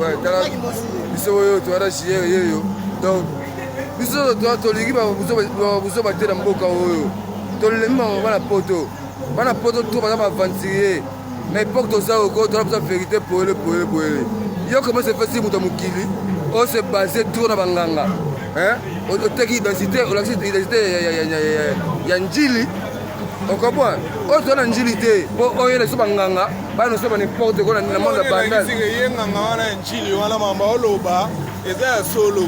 Ouais, tala biso oyo toyara jiyere yeyo donc biso tolingi babuzoba te na mboka oyo tolemi bango bana poto bana poto to baza baaventurier na epoke toza oko toza biza verité poele poele poele yo koma sefesi moto ya mokili ose base tour na banganga oteki identité olakisi identité ya njili okoboa oyo toza na njili te mpo oyela biso banganga bana oso ba n'importe quoi na monde ya bandal ye nganga wana ya njili wana mamba oloba eza ya solo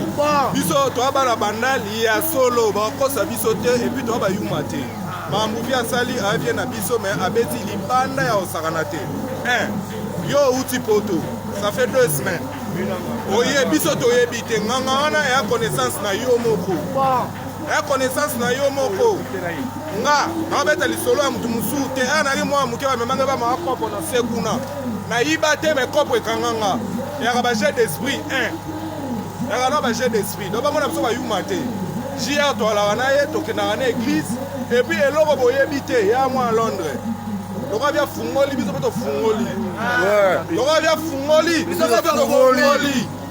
biso toa bana bandal ya solo bakokosa biso te epuis toa bayuma te mambuvi asali avie na biso me abeti libanda ya kosakana te yo outi poto ça fait deux semaines oye biso toyebi te nganga wana ya connaissance na yo moko ya connaissance na yo moko nga naobeta lisolo ya moto mosusu te ya nali mwana moke bamemanga bamaka kopo na se kuna nayiba te me kopo ekanga nga yaka bajet d'esprit 1 yaka na bajet d'esprit do bamona biso bayuma te jr toalaka na ye tokendaka na église epuis eloko boyebi te ya mwana londres lokola bia fungoli biso mpe tofungoli lokola bia fungoli biso mpe tofungoli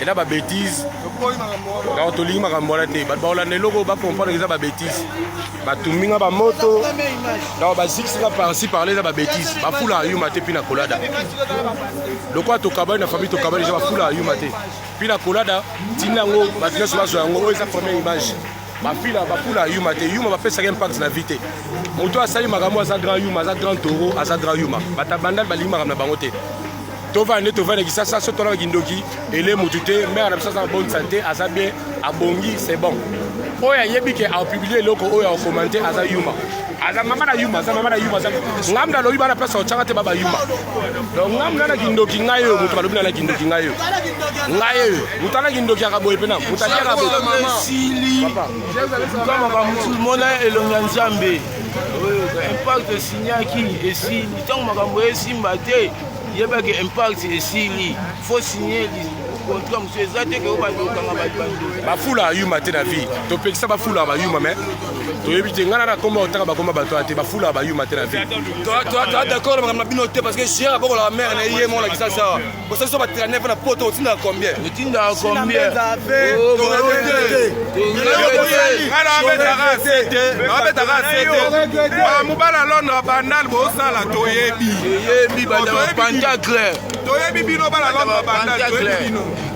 eza ba betise donc tolingi makambo wana te bato bakolanda eloko bacomprendre eza ba betise batumbi nga bamoto donc bazikisi nga parci parle eza ba betise bafula ayuma te mpi na kolada lokola tokabani na famille tokabani eza bafula ayuma te mpi na kolada ntina yango bato nyonso bazwa yango oyo eza première image bafila bakula ya yuma te yuma bapesaka impact na vie te moto asali makambo aza grand yuma aza grand toro aza grand yuma batabandal balingi makambo na bango te tovanda nde tovanda kisasa so tolaka kindoki ele motu te mare na biso aza na bonne santé aza bien abongi c'est bon oyo ayebi ke aopublie eloko oyo aokomante aza yuma aza mama na yuma aza mama na yuma aza ngamda alobi bana place otyaka te baba yuma donc ngamda na kindoki ngai oyo moto balobi na na kindoki ngai oyo ngai oyo moto ana kindoki yaka boye mpena moto atyaka boyesili mona elongi ya nzambe impact esinyaki esili ntango makambo esimba te yebaki impact esili fo signe contrat mosusu eza te ke oyo bandokanga bato bando bafula ayuma te na vie topekisa bafula bayuma mais toyebi te ngana na komba otaka bakoma bato ya te bafulaka bayuma te na vie toa d'accord na makambo na bino te parce que chien abokolaka mare na ye mona kisa sawa bosa biso batrane mpo na poto otindaka combien otindaka combien mobala londre bandal bosala toyebi toyebi bino bala londre bandal toyebi bino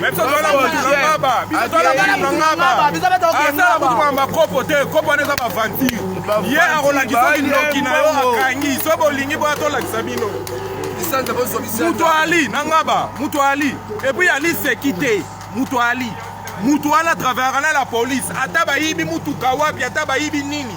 Mais biso toza na mutu na ngaba biso toza na mutu na ngaba asala kutu kona bakopo te kopo wana eza bavantir ye akolakisa kindoki na yo akangi so bolingi boya tolakisa bino mutu ali na ngaba mutu ali epuis ali seki te mutu ali mutu wana travaillaka na la police ata bayibi mutuka wapi ata bayibi nini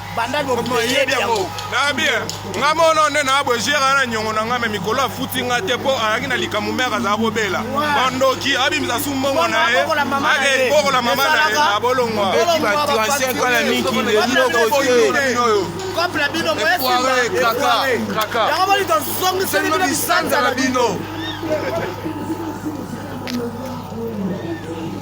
banda loyebi yango na bien nga mono nde na bojera na nyongo na nga me mikolo afuti nga te mpo ayaki na likambo mbe akazala kobela bandoki abimisa su mbongo na ye bokola mama na ye na bolongwa couple bino yango boni tozongiseli bino bisanza na bino